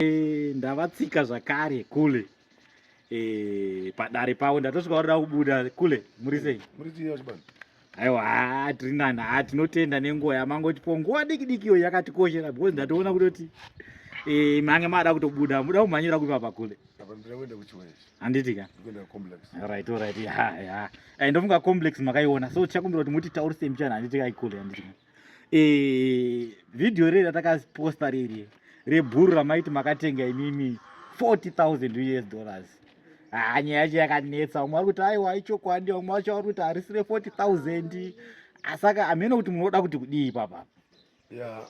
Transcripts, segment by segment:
Eh, ndavatsika zvakare kule eh, padare pavo ndatosvika varida kubuda kule muri sei aiwa haa tiri nani haa tinotenda nenguva yamangotipo nguva diki diki iyo yakatikoshera because ndatoona kutoti eh, mange maada kutobuda muda kumhanyira kupi apa kule handiti ka right right ya ya ndofunga complex makaiona so tichakumbira kuti mutitaurise mbichana handiti kaikule handiti ka eh, video riri ratakaposta riri rebhuru ramaiti makatenga imimi 40000 us dollars haa nyaya yacho yakanetsa vamwe vari kuti aiwa ichokwandi vamwe vacho vari kuti harisi re 40000 asaka hameno kuti munoda kuti kudii ipapa ya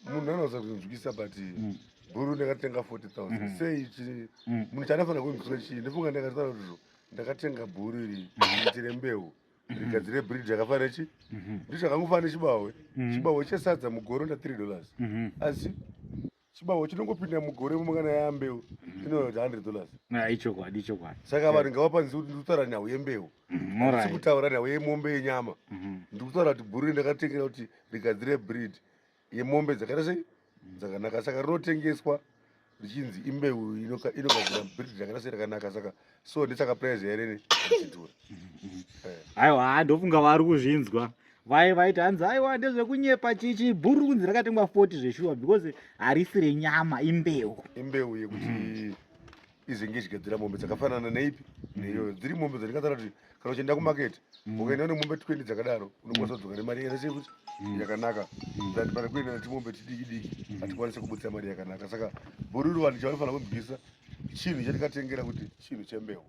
munhu anoza kunzwisa but mm. bhuru ndakatenga 40000 mm-hmm. sei chii mm. munhu chandafanira kunzwisa chii ndifunga ndakataura kuti ndakatenga bhuru iri mm-hmm. itire mbeu mhm. rigadzire bridge yakafanira nechi mhm. bridge yakangofanira nechibawe mhm. chibawe chesadza mugore nda three dollars asi chibawo chinongopinda mugore mumangana yambeu mhm. inoita hundred dollars ah, ichokwadi ichokwadi saka vanhu ngavapanzi kuti ndikutaura nhau yembeu mhm, sikutaura nhau yemombe yenyama mhm. ndikutaura kuti bhuru ndakatengera kuti rigadzire breed yemombe dzakaita sei dzakanaka saka rinotengeswa richinzi imbeu inogadzira bridge rakana sei rakanaka saka so ndisaka prize yarene ichidhura aiwa haa ndofunga vari kuzvinzwa vai vaiti hanzi aiwa ndezvekunyepa chichi bhuru kunzi rakatengwa 40 zveshuwa because harisi renyama imbeu imbeu yekuti mm. izenge ichigadzira mombe dzakafanana neipi neiyoyo dziri mombe dzandikatara kuti kana uchienda kumaketi mm. ukaenda une mombe twendi dzakadaro unokwanisa kudzoka nemari yese yekuti mm. yakanaka mm. that pari kuenda netimombe tidiki diki hatikwanise kubudisa mari yakanaka saka bhururu vanhu chavanofanira kubvisa chinhu chandikatengera kuti chinhu chembewu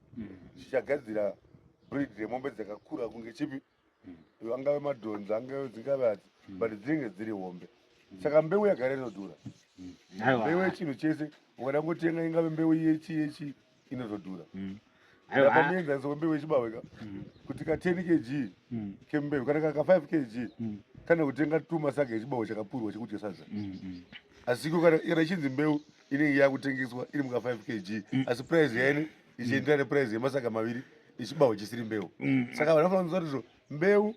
chichagadzira breed remombe dzakakura kunge chipi mm. angave madhonzi angave dzingave hadzi mm. but dzinenge dziri hombe mm. saka mbeu yagara inodhura mm. mbeu yechinhu chese ukada ngotenga ingave mbeu yechi yechi inotodhura mm. apamuenzaniso kwembeu yechibaweka mm. kuti ka 10 kg mm. kembeu kana kaka 5 kg mm. kana kutenga tumasaga echibawo chakapurwa chekudya sadza mm, mm. asiko kana ichinzi mbeu inenge yakutengeswa iri muka 5 kg mm. asi price yaine ichienderera neprize yemasaga maviri nechibaho chisiri mbeu mm. saka vanhu vanofanira kuziva kuti mbeu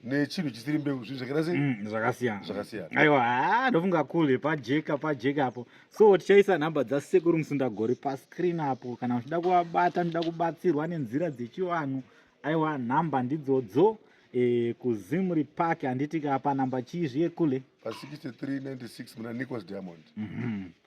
nechinhu chisiri mbeu zvinhu zvakaita sei mm, zvakasiyana zvakasiyana aiwa haa ndofunga kule pajeka pajeka apo so tichaisa nhamba dzasekuru musundagori pascreen apo kana muchida kuvabata muchida kubatsirwa nenzira dzechivanhu aiwa nhamba ndidzodzo e, kuzimri park handiti ka panhamba chii zviye kule pa 6396 muna nicholas diamond mm -hmm.